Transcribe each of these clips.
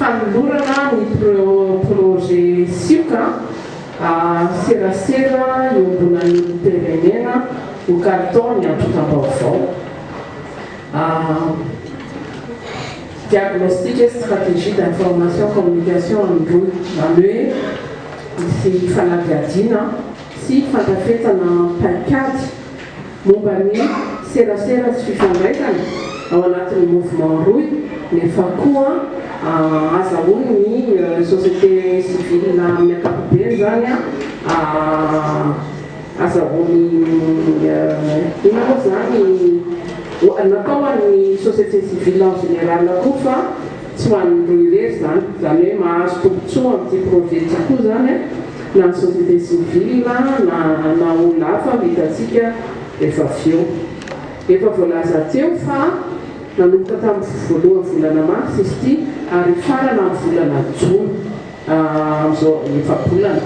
Fanolorana ny projet sioka serasera iombonan'ny olom-pirenena ho kalitao ny antontam-baovao, diagnostic et stratégie d'information communication amin'ny rohy, izany hoe misy fanadihadiana sy fandrafetana paikady. momba ny serasera sy fifandraisana ao anatin'ny mouvement rohy nefa koa ahazahoany ny société civile amin'ny ankapobeny izany ahazahoany inona moa izany, natao ho an'ny société civile en général koa fa. Tsy ho an'ny roa irery izany, izany hoe mahazo tombontsoa amin'ity projet ity koa izany na ny société civile na na olona hafa no hitantsika rehefa avy eo. Efa voalaza teo fa nanomboka tamin'ny voalohan'ny volana marsa izy ity ary hifarana amin'ny volana jona amin'izao efa-bolana.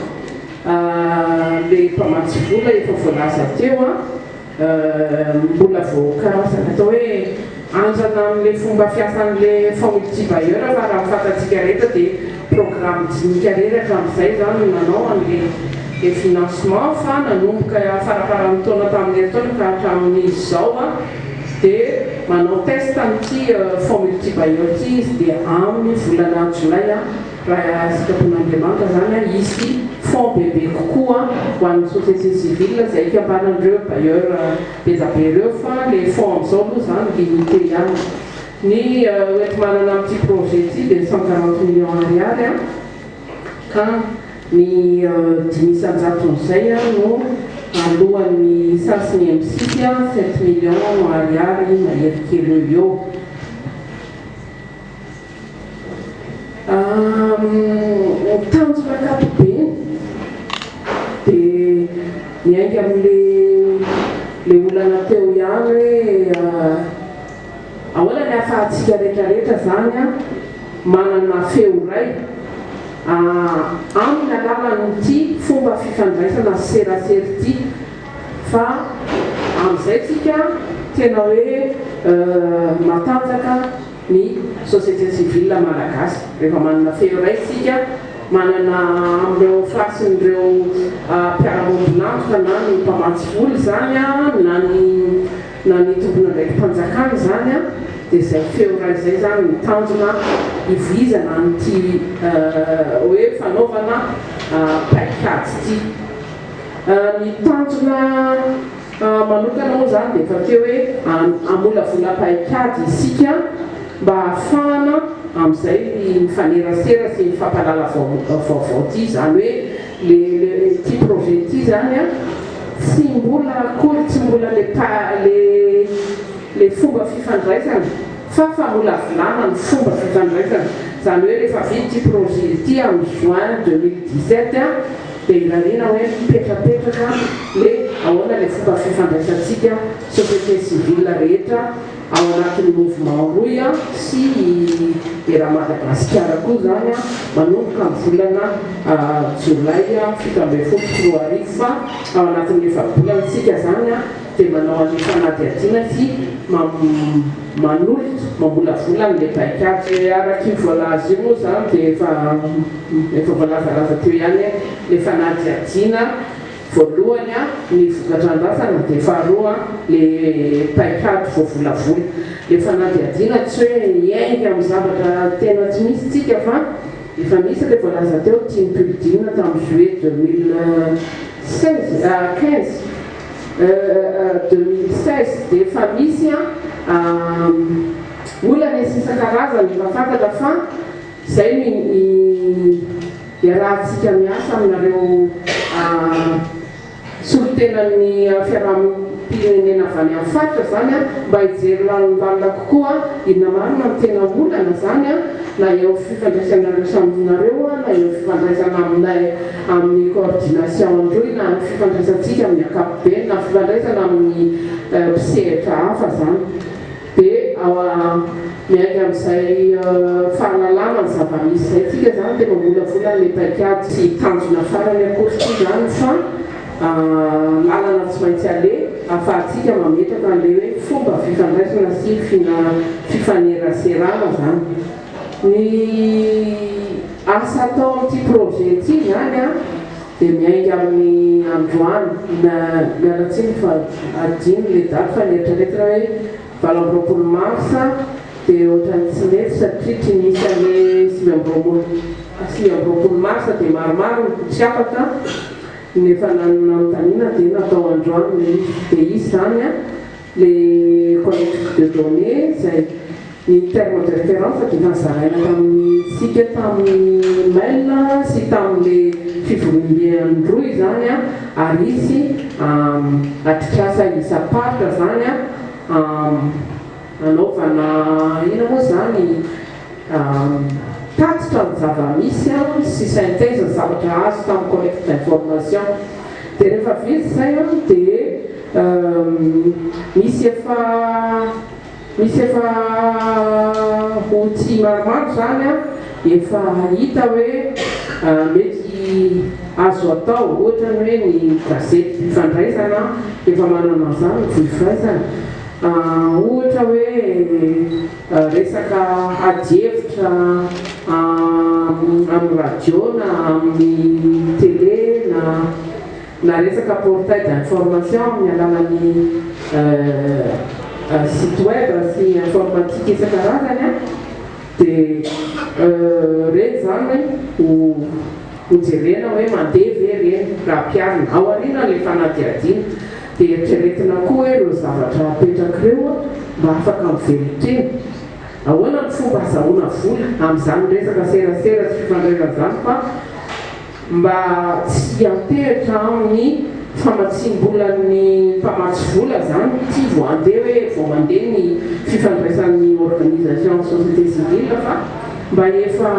Ilay mpamatsy vola efa voalaza teo. Mbola voakaroka ny atao hoe andrana amin'ilay fomba fiasan'ilay Faumultibayer fa raha ny fantatsika rehetra dia programme dinika rery hatramin'izay izany no nanao an'ilay financement fa nanomboka faraparan'ny taona tamin'ilay taona ka hatramin'izao dia manao test an'ity Faumultibayer ity izy dia amin'ny volana jolay Raha sitrapon'Andriamanitra izany an, hisy fonds bebe kokoa ho an'ny société civile izay ikambanan'ireo bailleurs be da be ireo fa ilay fonds amin'izao aloha izany limité ihany. Ny hoenti-manana amin'ity projet ity dia cent quarante millions ariary an, ka ny dimy isan-jaton'izay no aloan'ny sas ny MCIT, sept millions ariary mahery kely eo ho eo. Ny tanjona ankapobeny dia miainga amin'ilay olana teo ihany hoe ahoana ny ahafahantsika rehetrarehetra izany manana feo iray amin'ny alalan'ity fomba fifandraisana serasera ity fa amin'izay isika tena hoe matanjaka. ny société civile malagasy rehefa manana feo iray isika manana amin'ireo fasin'ireo mpiara-miombon'antoka na ny mpamatsy vola izany na ny na ny tompon'andraiki-panjakana izany dia izay feo iray izay izany no tanjona hivoizana amin'ity hoe fanaovana paikady ity ny tanjona Ahy manokana moa izany dia efa teo hoe hamolavola paikady isika mba hahafahana amin'izay ny mifanerasera sy mifampalala vaovao ity izany hoe le le ity projet ity izany an tsy mbola akory tsy mbola le pa le le fomba fifandraisana fa famolavolana ny fomba fifandraisana izany hoe rehefa vita ity projet ity amin'ny juin deux mille dix sept an Dia hirariana hoe mipetrapetraka le ahoana le fomba fifandraisantsika société civile rehetra ao anatin'ny mouvement rohy an sy i era Madagasikara koa zany an manomboka ny volana jolay fito ambin'ny folo sy roa arivo fa ao anatin'ny efa-bolana tsika zany an dia manao an'io fanadihadiana sy manolotra, mamolavola an'ilay paikady. Dia araka io voalaza io moa izany dia efa efa voalazalaza teo ihany hoe ilay fanadihadiana voalohany ny vokatra andrasana dia faharoa ilay paikady voavolavola. Ilay fanadihadiana tsy hoe miainga amin'ny zavatra tena tsy misy isika fa efa misy ilay voalaza teo, Tim Pulldin tamin'ny juillet deux mille seize, quinze. deux mille seize dia efa misy olana isisa-karazany efa fantatra fa izay no iarahantsika miasa aminareo solontenan'ny fiarahamonimpirenena avy any amin'ny faritra izany mba hijery lalindalina kokoa inona marina no tena olana izany na eo fifandraisanareo samy nareo na eo fifandraisana aminay amin'ny coordination an-drohy na amin'ny fifandraisantsika amin'ny ankapobeny na fifandraisana amin'ny mpisehatra hafa izany dia miainga amin'izay fahalalana ny zava-misy izay tsika izany dia mamolavola an'ilay paikady. Tsy tanjona farany akory ity izany fa lalana tsy maintsy aleha ahafahantsika mametraka an'ilay hoe fomba fifandraisana sy fifaneraserana izany. Ny asa atao amin'ity projet ity izany dia miainga amin'ny androany, miala tsiny fa adino ilay daty fa nieritreritra aho hoe valo amby roapolo mars dia ohatran'ny tsy mety satria tsy nisy an'le sivy amby roapolo sivy amby roapolo mars dia maromaro ny tsy afaka no efa nanontaniana dia natao androany ilay izy, dia izy izany an. Le politique de données izay ny terme de référence dia efa nozaraina tamintsika tamin'ny mail sy tamin'ilay fivoriambe an-droa izany ary hisy atrikasa isam-paritra izany hanaovana inona moa izany? Tatitra ny zava-misy aho sy synthèse ny zavatra azo tamin'ny collecte d'information. Dia rehefa vita izay an, dia misy efa misy efa outils maromaro izany an, efa hita hoe mety azo atao. Ohatra ny hoe ny gazety Mpifandraizana efa manana an'izany ny voifaizana. Ohatra hoe. Resaka ady hevitra amin'ny radio na amin'ny télé na na resaka portail d'information amin'ny alalan'ny site web sy informatique isan-karazany dia ireny izany ho jerena hoe mandeha ve ireny raha mpiharina ao aorianan'ilay fanadihadiana. Dia eritreretina koa hoe ireo zavatra apetraka ireo mba afaka mivelon-tena. Ahoana ny fomba azahoana vola amin'izany resaka serasera sy fifandrerana izany fa mba tsy hiantehitra amin'ny famatsiam-bolan'ny mpamatsy vola izany ity vao handeha hoe vao mandeha ny fifandraisan'ny organisation société civile fa mba efa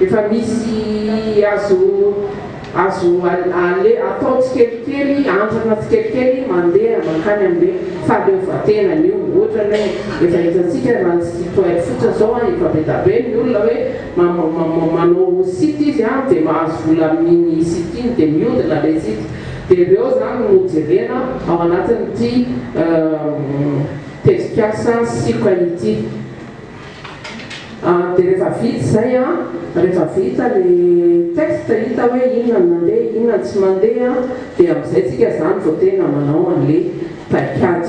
efa misy azo Azo ale atao tsikelikely, andrana tsikelikely mandeha mankany amin'le fahaleovantenany io. Ohatrany hoe efa hitantsika raha ny site web fotsiny zao an, efa be da be ny olona hoe ma-ma-ma-ma manao site izy an, de mahazo vola amin'iny site iny de miodina le site. De reo zany no jerena ao anatin'ity tetikasa Sika ity. Dia rehefa vita izay an, rehefa vita le texte hita hoe inona no mandeha inona no tsy mandeha dia amin'izay tsika izany vao tena manao an'le paikady.